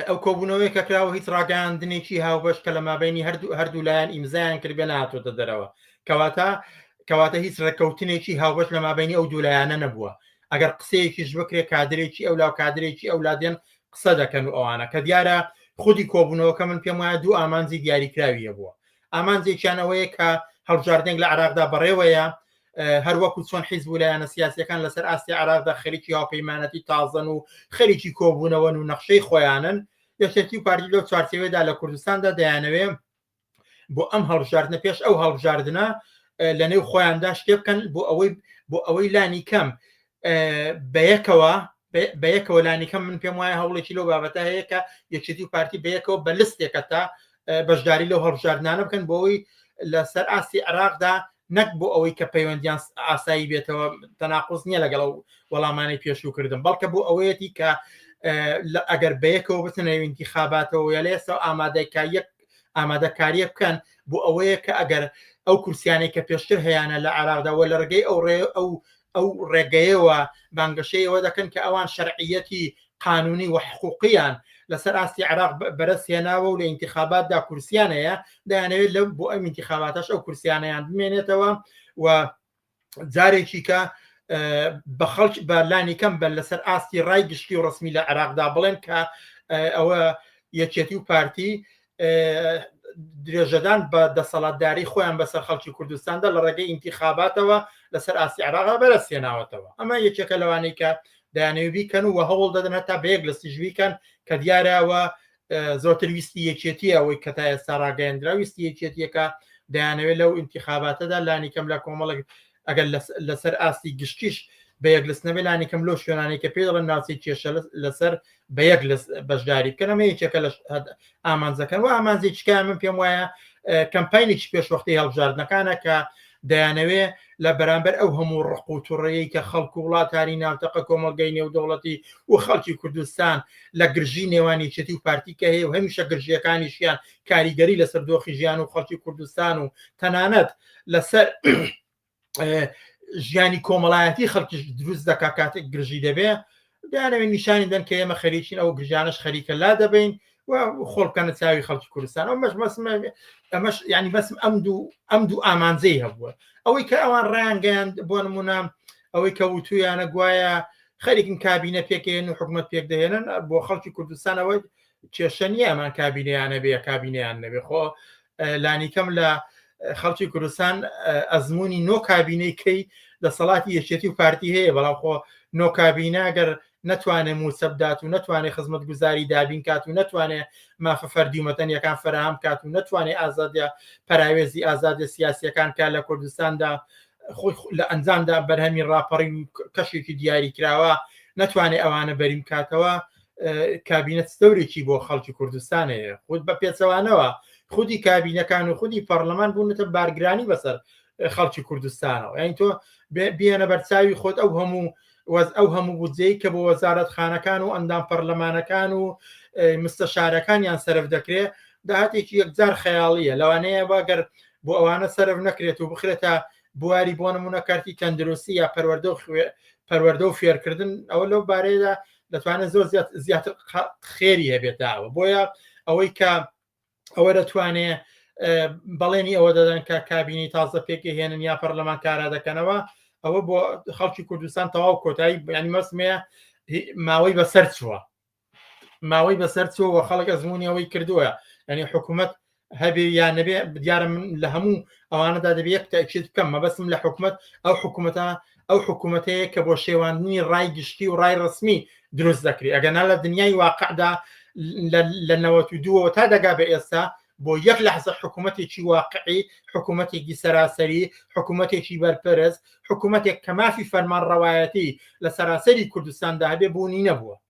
ئەو کۆبوونەوەی کە کراوە هیچ ڕاگەاندنێکی هاوبەش کە لە مابینی هەردوو هەردوو لایەن ئیمزایان کردێ ناتۆتە دەرەوە کەواتە کەواتە هیچ ڕێککەوتنێکی هاوبەش لە مابینی ئەو دوولایەنە نەبووە ئەگەر قسەیەکیش بکرێ کادرێکی ئەو لاو کادرێکی ئەو لادێن قسە دەکەن و ئەوانە کە دیارە خودی کۆبوونەوەکە من پێم وایە دوو ئامانجی دیاریکراویە بووە ئامانجێکیانەوەیە کە هەڵبژاردنێک لە عراقدا بەڕێوەیە هەروەکو چۆن حیزب و لایەنە سیاسەکان لەسەر ئاستی عراقدا خەریکی هاوپەیمانەتی تازەن و خەریکی کۆبوونەوەن و نەخشەی خۆیانن یەکێتی و پارتی لە چوارچێوێدا لە کوردستاندا دەیانەوێ بۆ ئەم هەڵبژاردنە پێش ئەو هەڵبژاردنە لە نێو خۆیاندا شتێ بکەن بۆ ئەوەی بۆ ئەوەی لانی کەم بەیەکەوە بەیەکەوە لانیکەم من پێم وایە هەوڵێکی لەو بابەتە هەیە کە یەکێتی و پارتی بەیەکەوە بە لستێکە تا بەشداری لەو هەڵبژاردنانە بکەن بۆی لەسەر ئاستی عراقدا نەک بۆ ئەوەی کە پەیوەندیان ئاسایی بێتەوە تەناقۆز نییە لەگەڵ و وەڵامانەی پێشوو کردم بەڵکە بۆ ئەوەیەتی کە ئەگەر بەیەکەوە بتنەوینتی خاباتەوە یا لێسەوە ئامادەکە یەک ئامادەکاریە بکەن بۆ ئەوەیە کە ئەگەر ئەو کورسیانەی کە پێشتر هەیەە لە عراقداوە لە ڕگەی ئەو ڕێ ئەو ئەو ڕێگەیەوە بانگەشەی ئەوە دەکەن کە ئەوان شەرعیەتی قانونی و حقوقییان لەسەر ئاستی عراق بەرەس هێناوە و لە ئینتخاباتدا کورسیان هەیە دەیانەوێت لەو بۆ ئەم ئینتخاباتەش ئەو کورسیانیان بمێنێتەوە و جارێکی کە بە خەڵک بە لانی کەم بە لەسەر ئاستی ڕای گشتی و ڕسمی لە عراقدا بڵێن کە ئەوە یەکێتی و پارتی درێژەدان بە دەسەڵاتداری خۆیان بەسەر خەڵکی کوردستاندا لە ڕێگەی ئینتیخاباتەوە لەسەر ئاسی عراقا بەرە سێناوەتەوە ئەمە یەکێکە لەوانەی کە دانەوی بیکەن و هەوڵ دەدەن هەتا بەیەک لە سیژویکەن کە دیارەوە زۆتر ویستی یەکێتی ئەوەی کە تا ئێستا ڕاگەیاندرا ویستی یەکێتیەکە دەیانەوێت لەو ئینتیخاباتەدا لانیکەم لە کۆمەڵک ئەگەر لەسەر ئاستی گشتیش بە یەک لەس نەبێ لانیکەم لۆ شوێنانی کە پێ دەڵێن ناوچەی کێشە لەسەر بە یەک لەس بەشداری بکەنەمە یەکێکە لە ئامانجەکەن و ئامانجی چکای من پێم وایە کەمپینێکی پێشوەختی هەڵبژاردنەکانە کە دەیانەوێ لە بەرامبەر ئەو هەموو ڕق و توڕەیە کە خەڵک و وڵاتانی ناوتەقە کۆمەلگەی نێودەوڵەتی و خەڵکی کوردستان لە گرژی نێوانی چێتی و پارتیکە هەیە و هەمیشە گرژیەکانیشیان کاریگەری لەسەر دۆخی ژیان و خەڵکی کوردستان و تەنانەت لەسەر ژیانی کۆمەڵایەتی خەڵکیش دروست دەکا کاتێک گرژی دەبێ دانەوێت نیشانی دەن کە ئێمە خەریکین ئەو گرژانش خەریکە لا دەبین و خۆڵکەنە چاوی خەڵکی کوردستان ئەو مەش مەسمە ئەمەش ینی بەسم ئەم دوو ئەم دوو ئامانجەی هەبووە ئەوەی کە ئەوان ڕانگەیان بۆ نمونە ئەوەی کە وتویانە گوایە خەریکن کابینە پێکێن و حکومت پێک دەهێنن بۆ خەڵکی کوردستانەوەی کێشە نییە ئەمان کابینەیانە بێ کابینەیان نەبێ خۆ لانیکەم لە خەڵکی کوردستان ئەزمموی نۆ کابینەی کەی دەسەڵاتی یەکێتی و پارتی هەیە بەڵام خۆ نۆ کابینە گەر نتوانێت موسەبدات و نتوانێت خزمەت گوزاری دابین کات و نتوانێت مافە فەردیومەتەن یەکان فراهام کات و نتوانێت ئازادە پراوێزی ئازادە سیاسیەکان کار لە کوردستاندا خۆی لە ئەنجامدا بەرهەمی ڕاپەڕی کەشێکی دیاری کراوە نتوانێت ئەوانە بەریم کاتەوە کابینە دەورێکی بۆ خەڵکی کوردستان هەیە خود بە پێچەوانەوە خودی کابینەکان و خودی پەرلەمان بوونەتە بارگرانی بەسەر خەڵکی کوردستانەوە یان تۆ بیانە بەرچاوی خۆت ئەو هەموو وەز ئەو هەموو بودجەی کە بۆ وەزارەت خانەکان و ئەندام پەرلەمانەکان و مستەشارەکانیان سرف دەکرێ داهاتێکی یەکجار خەیاڵیە لەوانەیە واگەر بۆ ئەوانە سرف نەکرێت و بخرێتە بواری بۆ نمونە کارتی تەندروستی یا پەروەەردە و خوێ پەروەەردە و فێرکردن ئەوە لەو بارەیەدا دەتوانێت زۆر زیاتر خێری هەبێتەوە بۆیە ئەوەی کە ئەوە دەتوانێت بەڵێنی ئەوە دەدەن کە کابینی تازە پێکی هێنن یا پەرلەمان کارا دەکەنەوە ئەوە بۆ خەڵکی کوردستان تەواو کۆتایی بەیانی مەسمەیە ماوەی بەسەر چووە ماوەی بەسەر چووە خەڵک ئەزمونیەوەی کردووە ئەنی حکوومەت هەبێ یا نەبێ دیارە من لە هەموو ئەوانەدا دەبێ یەک تاکیت بکەم مەبەسم لە حکوومەت ئەو حکوومەتە ئەو حکوومەتەیە کە بۆ شێواندنی ڕای گشتی و ڕای ڕسمی دروست دەکری ئەگەنا لە دنیای واقعدا لە نەوە دووەوە تا دەگا بە ئێستا بۆ یەک لەحزە حکوومەتێکی واقعی حکوومەتێکی سەراسەری حکوومەتێکی بەرپەرست حکوومەتێک کە مافی فەرمان ڕەوایەتی لە سەراسەری کوردستاندا هەبێ بوونی نەبووە